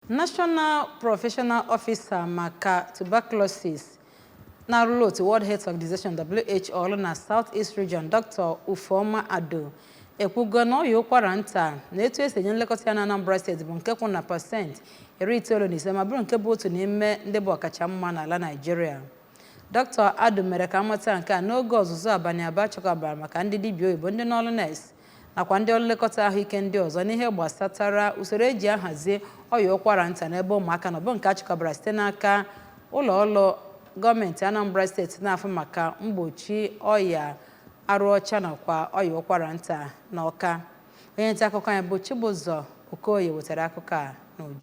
National Professional Officer maka Tuberculosis na-arụrụ otu World Health Organization WHO ọrụ na South East Region Dr. Ufuoma Adu ekwugo na ọya ụkwara nta na etu esi enye nlekọta ya na Anambra steeti bụ nke kwụ na pasentị iri itoolu na ise ma bụrụ nke bụ otu n'ime ndị bụ ọkacha mma n'ala Naịjirịa Dr. Adu mere ka amata nke a n'oge ọzụzụ abalị abụọ achịkọbara maka ndị dibịa oyibo ndị n'ọrụ nurse nakwa ndị ọrụ nlekọta ahụike ndị ọzọ n'ihe gbasatara usoro eji ahazi ọya ụkwara nta n'ebe ụmụaka nọ bụ nke achịkọbara site n'aka ụlọ ọrụ gọọmenti Anambra steeti na-afụ maka mgbochi ọya arụ ọcha nakwa ọya ụkwara nta na Ọka onye nta akụkọ anyị bụ Chibụzọ Okoye wetara akụkọ a n'uju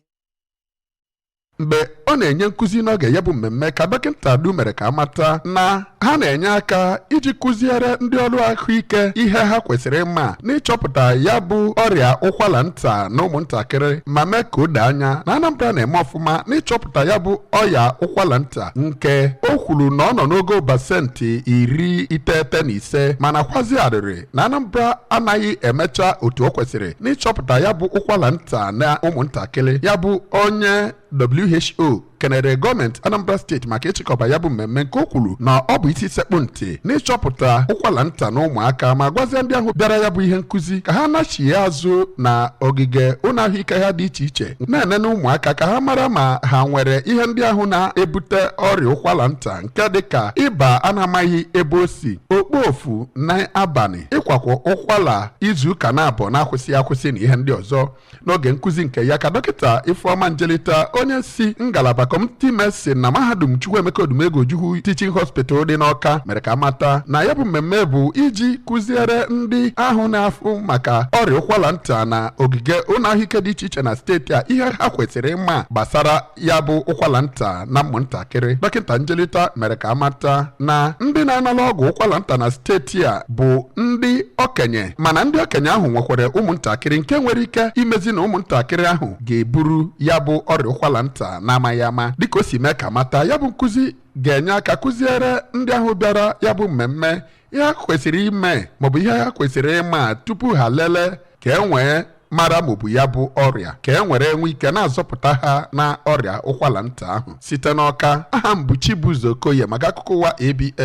mgbe ọ na-enye nkụzi n'oge ya bụ mmemme ka dọkịta Adu mere ka amata na ha na-enye aka iji kụziere ndị ọrụ ahụike ihe ha kwesịrị ịma n'ịchọpụta ya bụ ọrịa ụkwara nta na ụmụntakịrị ma mee ka o doo anya na Anambra na-eme ọfụma n'ịchọpụta ya bụ ọya ụkwara nta nke o kwuru na ọ nọ n'ogo pasentị iri iteghete na ise mana kwazi arịrị na Anambra anaghị emecha otu o kwesịrị n'ịchọpụta ya bụ ụkwara nta na ụmụntakịrị ya bụ onye WHO kenere gọọmenti Anambra steeti maka ịchịkọba ya bụ mmemme nke o kwuru na ọ bụ isi sekpụ ntị n'ịchọpụta ụkwara nta na ụmụaka ma gwazie ndị ahụ bịara ya bụ ihe nkụzi ka ha nachie azụ na ogige ụlọ ahụike ha dị iche iche na-enene ụmụaka ka ha mara ma ha nwere ihe ndị ahụ na-ebute ọrịa ụkwara nta nke dịka ịba a na-amaghị ebe o si okpofu na abalị ịkwakwa ụkwala izu ụka naabọ na-akwụsịghị akwụsị na ihe ndị ọzọ n'oge nkụzi nke ya ka dọkịta ifeọma njelita onye si ngalaba community medicine na mahadum chukwuemeka odumegwu ojukwu teaching hospital dị n'ọka mere ka amata na ya bụ mmemme bụ iji kụziere ndị ahụ na-afụ maka ọrịa ụkwala nta na ogige ụlọ ahụike dị iche iche na steeti a ihe ha kwesịrị ịma gbasara ya bụ ụkwala nta na ụmụntakịrị dọkịta njelita mere ka amata na ndị na-anara ọgwụ ụkwala nta na steeti a bụ ndị okenye mana ndị okenye ahụ nwekwara ụmụntakịrị nke nwere ike imezi na ụmụntakịrị ahụ ga-eburu ya bụ ọrịa ụkwala nta na-amaghị ama dịka o si mee ka amata ya bụ nkụzi ga-enye aka kụziere ndị ahụ bịara ya bụ mmemme ihe ha kwesịrị ime maọbụ ihe ha kwesịrị ịma tupu ha lelee ka e nwee mara ma ọ bụ ya bụ ọrịa ka e nwere e nwee ike na-azọpụta ha na ọrịa ụkwara nta ahụ site n'ọka aha m bụ Chibụzọ Okoye maka akụkọ ụwa ABS